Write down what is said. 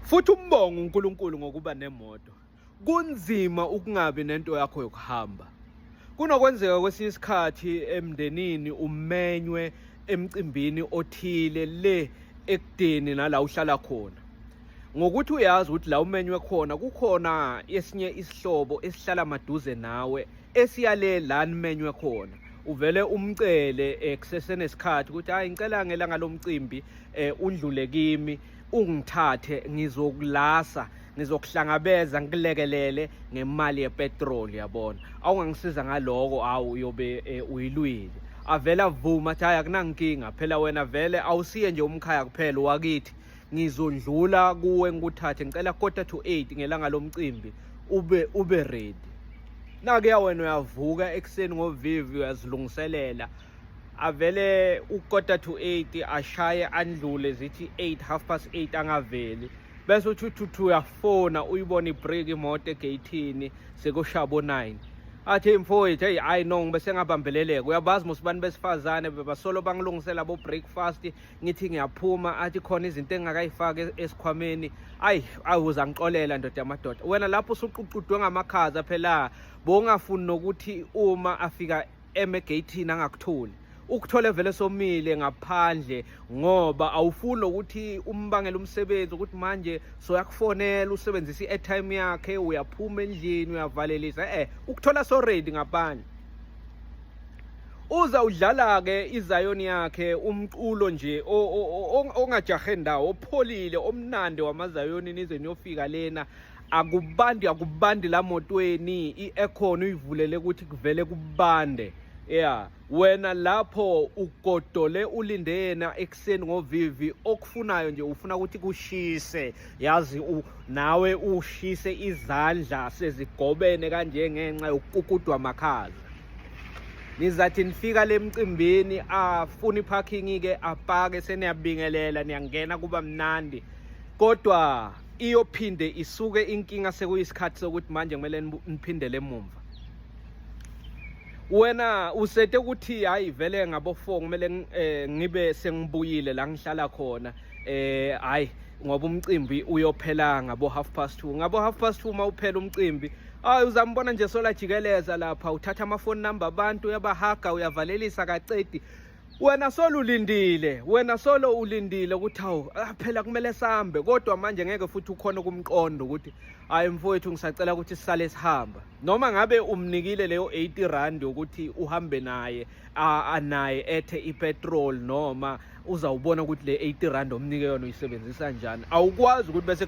Futhi umbonga uNkulunkulu ngokuba nemoto. Kunzima ukungabi nento yakho yokuhamba. Kunokwenzeka kwesinye isikhathi emndenini umenywe emcimbini othile le ekudeni nala uhlala khona. Ngokuthi uyazi ukuthi la umenywe khona kukhona esinye isihlobo esihlala maduze nawe esiyale la nimenywe khona. uvele umcele eh, kusesenesikhathi ukuthi hayi ngicela ngelanga lomcimbi eh, undlule kimi ungithathe ngizokulasa ngizokuhlangabeza ngikulekelele ngemali yepetroli yabona awungangisiza ngaloko awu uyobe eh, uyilwile avela vuma athi hayi akunankinga phela wena vele awusiye nje umkhaya kuphela wakithi ngizondlula kuwe ngikuthathe ngicela quarter to 8 ngelanga lomcimbi ube ube ready nakuya wena uyavuka ekuseni ngovivi uyazilungiselela avele ukota to 8 ashaye andlule zithi 8 half past 8 angaveli bese uthi uthuthu uyafona uyibona ibreak imoto egeyithini sekushabo 9 athi mfowethu hey hayi no ngibe sengabambeleleka uyabazi musibani besifazane bebasolo bangilungisela bo breakfast ngithi ngiyaphuma athi khona izinto engakayifaki esikhwameni ayi awuza ngixolela ndoda yamadoda wena lapho usuququdwe ngamakhaza phela bongafuni nokuthi uma afika emegeyithini angakutholi ukuthole vele somile ngaphandle ngoba awufuni ukuthi umbangele umsebenzi ukuthi manje soyakufonela usebenzisa i-airtime yakhe uyaphuma endlini uyavalelisa eh ukuthola so ready ngaphandle uza udlala ke iZion yakhe umculo nje ongajahe ndawo opholile omnandi wamaZion nize niyofika lena akubandi akubandi la motweni i-aircon uyivulele ukuthi kuvele kubande yeah wena lapho ugodole ulinde yena ekuseni ngovivi okufunayo nje ufuna ukuthi kushise yazi u, nawe ushise izandla sezigobene kanje ngenxa yokukudwa makhaza nizathi nifika le mcimbini afuna iphakingi-ke apake seniyabingelela niyangena kuba mnandi kodwa iyophinde isuke inkinga sekuyisikhathi sokuthi manje kumele niphindele emumva wena usete ukuthi hayi vele ngabofo kumele eh, ngibe sengibuyile la ngihlala khona eh hayi ngoba umcimbi uyophela ngabo half past 2 ngabo half past 2 uma uphela umcimbi hayi uzambona nje sola jikeleza lapha uthatha amafoni number abantu uyabahaga uyavalelisa kacedi wena solo ulindile wena solo ulindile ukuthi hawu ah, phela kumele sambe kodwa manje ngeke futhi ukhona kumqondo ukuthi hayi mfowethu ngisacela ukuthi sisale sihamba noma ngabe umnikile leyo 80 rand ukuthi uhambe naye anaye ethe ipetrol noma uzawubona ukuthi le 80 rand omnike yona uyisebenzisa njani awukwazi ukuthi bese